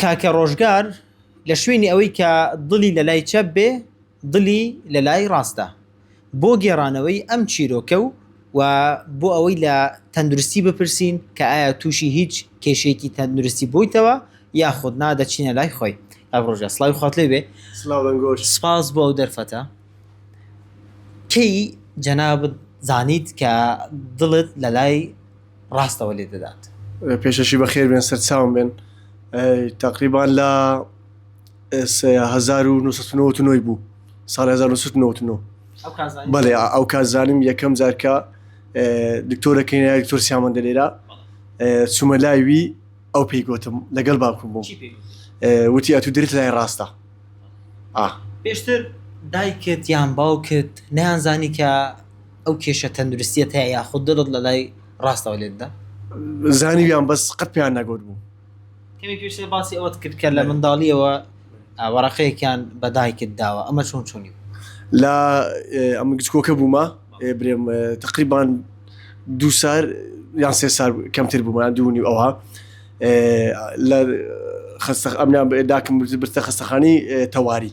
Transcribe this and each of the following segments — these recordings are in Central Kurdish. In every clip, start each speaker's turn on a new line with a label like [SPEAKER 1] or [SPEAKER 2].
[SPEAKER 1] کاکە ڕۆژگار لە شوێنی ئەوەی کە دڵی لە لای چەپ بێ دڵی لە لای ڕاستە بۆ گێڕانەوەی ئەم چیرۆکە و و بۆ ئەوەی لە تەندروستی بپرسین کە ئایا تووشی هیچ کێشەیەکی تەندروستی بوویتەوە یاخود نا دەچینە لای خۆی. کاک ڕۆژگار سڵاوی خوات لێ بێ سپاس بۆ ئەو دەرفەتە. کەی جەنابت زانیت کە دڵت لە لای ڕاستەوە لێ دەدات. پێشەکی بەخێر
[SPEAKER 2] بێن سەرچاوم بێن تقریبان لە هەزار و نوی بوو ساڵ 1990 بەێ ئەو کازانم یەکەم جارکە دکتۆرەکەی دکتۆر سیامەن دەلێرا چوومە لایوی ئەو پێی گوتم لەگەڵ باکوم بوو وتی ئەتو درت لای ڕاستە
[SPEAKER 1] پێشتر دایکت یان باوکت نیانزانی کە ئەو کێشە تەندروستیت هەیە یاخود دڵت لە لای ڕاستەوە لێت دا؟ زانیویان
[SPEAKER 2] بەس قەت پێیان نەگوت بوو. کەمێک پێشتر
[SPEAKER 1] باسی ئەوەت کرد کە لە منداڵیەوە وەرەقەیەکیان بە دایکت داوە ئەمە چۆن چۆنی بوو؟ لە
[SPEAKER 2] ئەمن گچکۆکە بوومە برێم تقریبان دوو سار یان سێ سار کەمتر بوومان دوونی ئەوها لە خستە ئەمنیان داکم برتە خستەخانی تەواری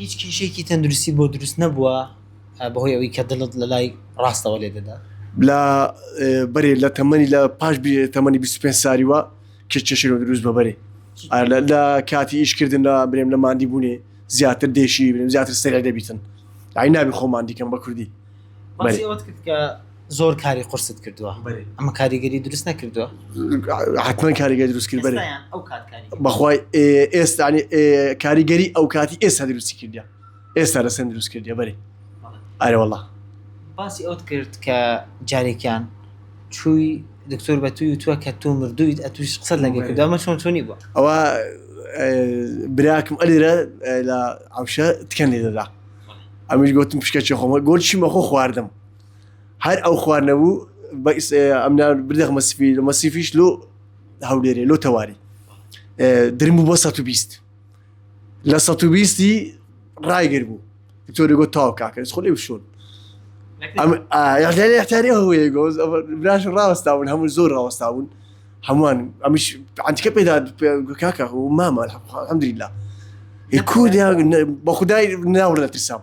[SPEAKER 2] هیچ
[SPEAKER 1] کێشەیەکی تەندروستی بۆ دروست نەبووە بەهۆی ئەوەی کە دڵت لە لای ڕاستەوە لێ دەدا؟ لە
[SPEAKER 2] بەرێ لە تەمەنی لە پاش تەمەنی بیست و پێنج ساریوە کێ کێشەی لۆ دروست بە بەرێ لە کاتی ئیش کردن لە برێم لە ماندی بوونێ زیاتر دێشی برێم زیاتر سەرێ دەبیتن ئای نابی خۆ ماندی کەم بە کوردی. باسی ئەوەت
[SPEAKER 1] کرد کە زۆر کاری قرست کردووە ئەمە کاریگەری دروست نەکردووە حتمما
[SPEAKER 2] کاریگەری دروستکرد بەێ بەخوای ئێستانی کاریگەری ئەو کاتی ئێستا دروستی کردیا ئێستا لە سند دروست کردیا بەێ ئارەوەڵا باسی ئەوت
[SPEAKER 1] کرد کە جارێکیان چووی دکتۆر بە توی وتووە کە تۆ مردوویت ئە توش قسە لەگە کردامە چۆن چۆنی بووە ئەوە
[SPEAKER 2] براکم ئەلیرە لە ئەوشە تکەن لێ دەدا ئەمیش گوتم پشکە چێ خۆمە گۆلچی مەخۆ خواردم هەر ئەو خواردنەبوو ئەمنیان بدەخمە سپی لە مەسیفیش لۆ هەولێرێ لۆ تەواری درم بوو بۆ 120 لە 120ی ڕایگر بوو تۆری گۆ تاو کاکەس خۆ لێ بشۆن یاحتاری هەوەیە گۆز براش ڕاوەستاون هەموو زۆر ڕاوەستاون هەمووان ئەمیش عتیکە پێدا کاکە و مامە هەمدریلا کورد بە خدای ناوە لە ترسام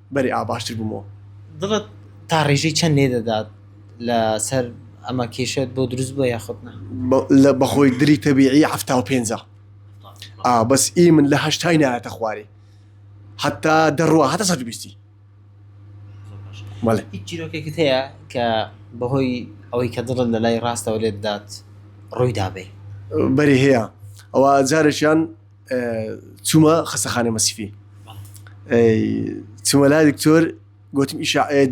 [SPEAKER 2] بەری ئا باشتر بومەوە. دڵت
[SPEAKER 1] تا ڕێژەی چەند لێ دەدات لە سەر ئەمە کێشەت بۆ دروست بوە یاخود نا؟ لە بەخۆی
[SPEAKER 2] دری تەبیعی حەفتا و پێنج ە ئا بەس ئی من لە هەشتای نایەتە خواری حەتا دەڕوا هەتا سەد و بیستی.
[SPEAKER 1] بەڵێ. هیچ چیرۆکێکت هەیە کە بەهۆی ئەوەی کە دڵت لە لای ڕاستەوە لێت دات ڕووی دابێ؟ بەری هەیە
[SPEAKER 2] ئەوە جارێکیان چوومە خەسەخانەی مەسیفی چوومە لا دکتۆر گوتم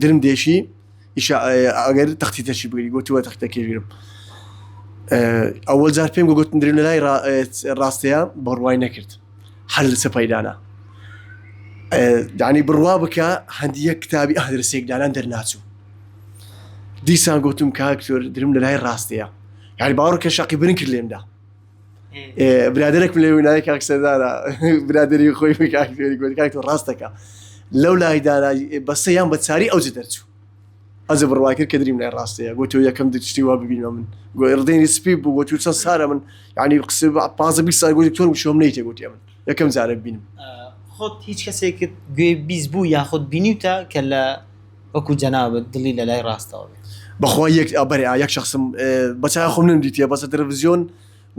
[SPEAKER 2] درم دێشی ئەگەر تەختی تەشی بگری گوتووە تەختە کێژیرم ئەوە جار پێم گوتن درێن لای ڕاستەیە بڕوای نەکرد هەر لە سەپایدانا دانی بڕوا بکە هەندیە کتابی ئەهدرسێکدانان دەرناچوو دیسان گوتم کاکتۆر درم لە لای ڕاستەیە یاری باوەڕکە شقی برن کرد لێمدا برادێک لێ وینای کاک سەردارە برادری خۆی کاکێریکاک و ڕاستەکە لەو لای دارای بەسەیان بە چاری ئەوج دەرچوو ئەزە بڕوا کرد کە دریم لای ڕاستەیە گوتۆ یەکەم دشتی وا ببینە من گۆی ڕدەینی سپی بوو گوتو چەند سارە من ینی قسە پازە بی ساگوی تۆر وشۆم نیتە گوتی من یەکەم جارە بینم خۆت هیچ
[SPEAKER 1] کەسێکت گوێ بیست بوو یاخود بینیوتە کە لە وەکو جەنابت دڵی لە لای ڕاستەوە بێت. بەخوای یەک ئا بەرێ
[SPEAKER 2] ئا یەک شەخسم بە چاوی خۆم نەم دیتیە بەس لە تەلەفزیۆن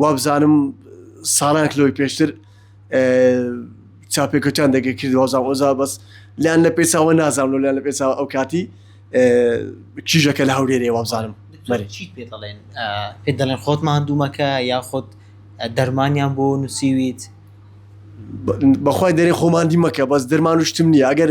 [SPEAKER 2] وابزانم ساڵانێک لەوەی پێشتر چاوپێکەوتان دەگە کرد وابزانم ئەوزا بەس لەیان لە پێی چاوە نازانم لەو لەیان لە پێی چاوە ئەو کاتی کیژەکە لە هەولێرێ وابزانم بەرێ چیت پێ دەڵێن
[SPEAKER 1] ئا پێ دەڵێن خۆت ماندوومەکە یا خۆت دەرمانیان بۆ نووسیویت.
[SPEAKER 2] بەخوای دەرێ خۆ ماندی مەکە بەس دەرمان و شتم نییە ئەگەر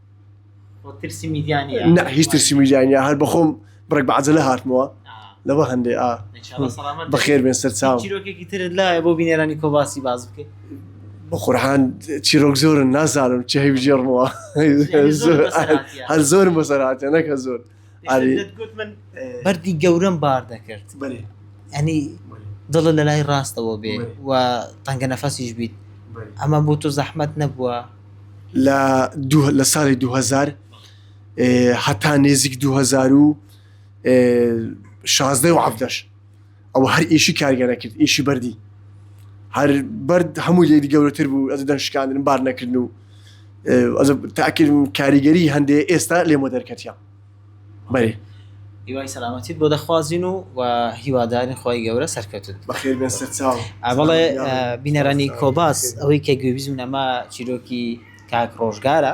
[SPEAKER 1] نە هیچ ترسی میدیانە
[SPEAKER 2] هەر بەخۆم بڕێک بەعجلە هاتمەوە لەوە هەندێ ئا بەخێر بێن سەر چاو لایە بۆ
[SPEAKER 1] بینێرانی کۆباسی باز بکەیت بە قورحان
[SPEAKER 2] چیرۆک زۆرن نازانم چه هەیبژێڕمەوە هەر زۆرم بەسەراتێ نەکە زۆر بەردی
[SPEAKER 1] گەورەم بار دەکرد ئەنی دڵە لە لای ڕاستەوە بێ و تەنگە نەفەسیش بیت ئەمە بۆ تۆ زەحمەت نەبووە لە
[SPEAKER 2] لە ساڵی 2000 هەتا نێزیک 2016 و عبدەش ئەوە هەر ئیشی کارگەرە کرد ئیشی بەردی هەر بەرد هەموو لێدی گەورەتر بوو ئەز دەم شکاندن بار نەکردن و تاکرد کاریگەری هەندێ ئێستا لێمە دەرکەتیا بەێ هیوای
[SPEAKER 1] سەلامەتیت بۆ دەخوازیین و و هیوادارین خۆی گەورە سەرکەوتن
[SPEAKER 2] بەڵێ
[SPEAKER 1] بینەرانی کۆباس ئەوەی کە گوێبیزم نەما چیرۆکی کاک ڕۆژگارە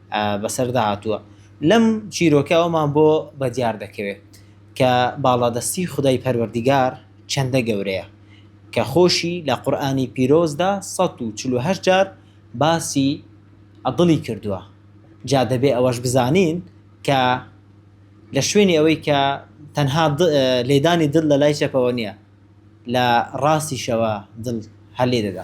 [SPEAKER 1] بەسەردا هاتووە. لەم چیرۆکە ئەوەمان بۆ بەدیار دەکەوێت کە باڵادەستی خودای پەروەردیگار چەندە گەورەیە کە خۆشی لە قورئانی پیرۆزدا سەد و چل و هەشت جار باسی دڵی کردووە جا دەبێ ئەوەش بزانین کە لە شوێنی ئەوەی کە تەنها لێدانی دڵ لە لای چەپەوە نیە لە ڕاستیشەوە دڵ هەر لێ دەدا.